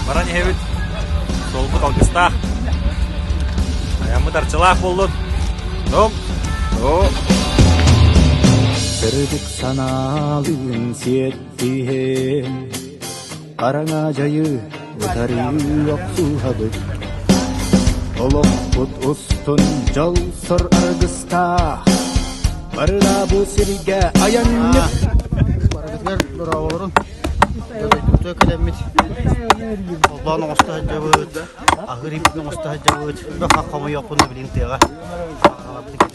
Баран иһэбит долбут алгыстаах. Аяммыт арчылаах буллут. Ну, ну. Сырдык санаалыын сиэттиһэн Хараҥа дьайыы утарыы охсуһабыт Олохпут устун дьолсор аргыстаах Барыла бу сиргэ айанньыт Барытыгар дорооболорун Дөбөйтүтө кэлэммит Холбоон оҥосто сылдьабыт Аһыыр ииппин оҥосто сылдьабыт Бөх хомойуохпун да билин тыаҕа